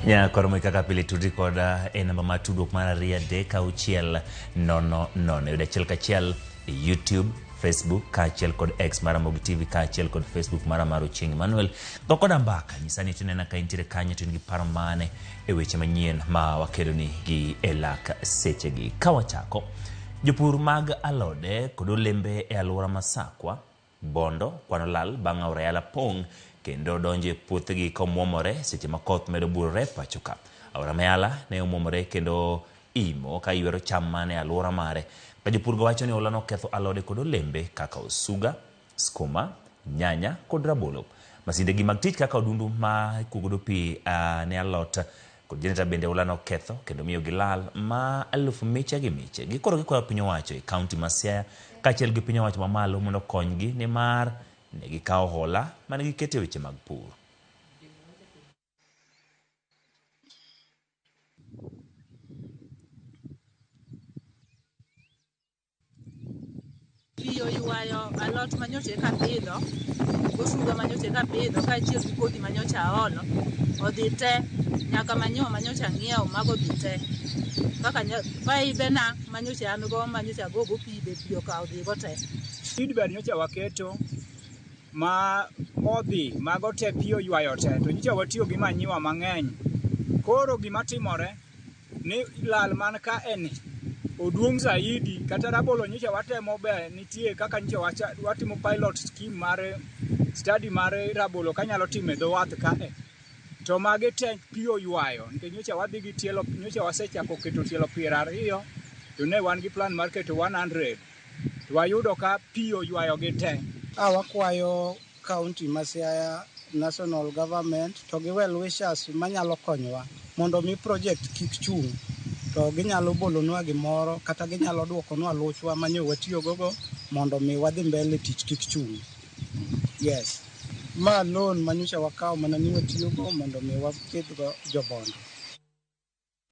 nya koro moy kaka pile tudri kod e namba mar tudruok mar ariyo adek auchiel nono nono yudo achiel kachiel e youtube facebook kaachiel kod x mara mogi tv kaachiel kod facebook mara mar ochieng emmanuel go koda mbaka nyisa ni tunena ka intiere kanyo to in gi paro mane e weche manyien ma wakeloni gi e lak sechegi ka wachako jopur mag alode kod olembe e alwora ma sakwa Bondo kwano lal bang' aora Yala pong' kendo donjo e puothegi ka omwomore seche ma koth medo burore e pachoka. Aora ma Yala ne omwomore kendo imo ka ywero cham man e alwora mare. Ka jopurgo wacho ni olano oketho alode kod olembe kaka osuga, skuma, nyanya kod rabolo. Masindegi mag tich kaka odundu ma ikuogodo pi ne alot Kod jenereta bende oula noketho kendo miyo gilal ma eluf miche gi miche. Gikoro gikwayo piny owacho e kaunti ma Siaya kaachiel gi piny owacho ma malo mondo okonygi nimar ne gikawo hola mane giketo e weche mag pur. Pi oywayo alot ma nyocha eka apidho, gosuga ma nyocha eka apidho kaachiel gi kodhi ma nyocha aolo, odhi te nyaka manyiwa ma nyocha ang'iewo mago odhi te. Kaka nya paibena ma nyocha an go ma nyocha agogo pi be pi okawo odhigo te. Seedbed nyocha waketo ma odhi mago te pi oywayo te to nyocha watiyo gi manyiwa mang'eny. Koro gimatimore, ni lal man ka eni oduong' zaidi kata rabolo nyicha watemo be nitie kaka nyicha watimo pilot scheme mar study mar rabolo kanyalo time dho wath ka e to magi te pi oywayo nikech nyocha wadhi gi tielo nyocha wasechako keto tielo piero ariyo to ne wan gi plan mar keto 100 to wayudo ka pi oywayo gi te a wakwayo county ma Siaya, national government to gi well wishers manyalo konyowa mondo mi project kik chung' to ginyalo bolonwa gimoro kata ginyalo dwokonwa luchwa mane watiyogogo mondo mi wadhi mbele tich kik chung'. Yes. Ma loan manyocha wakawo mana ni watiyogo mondo mi wakidhgo jobondo.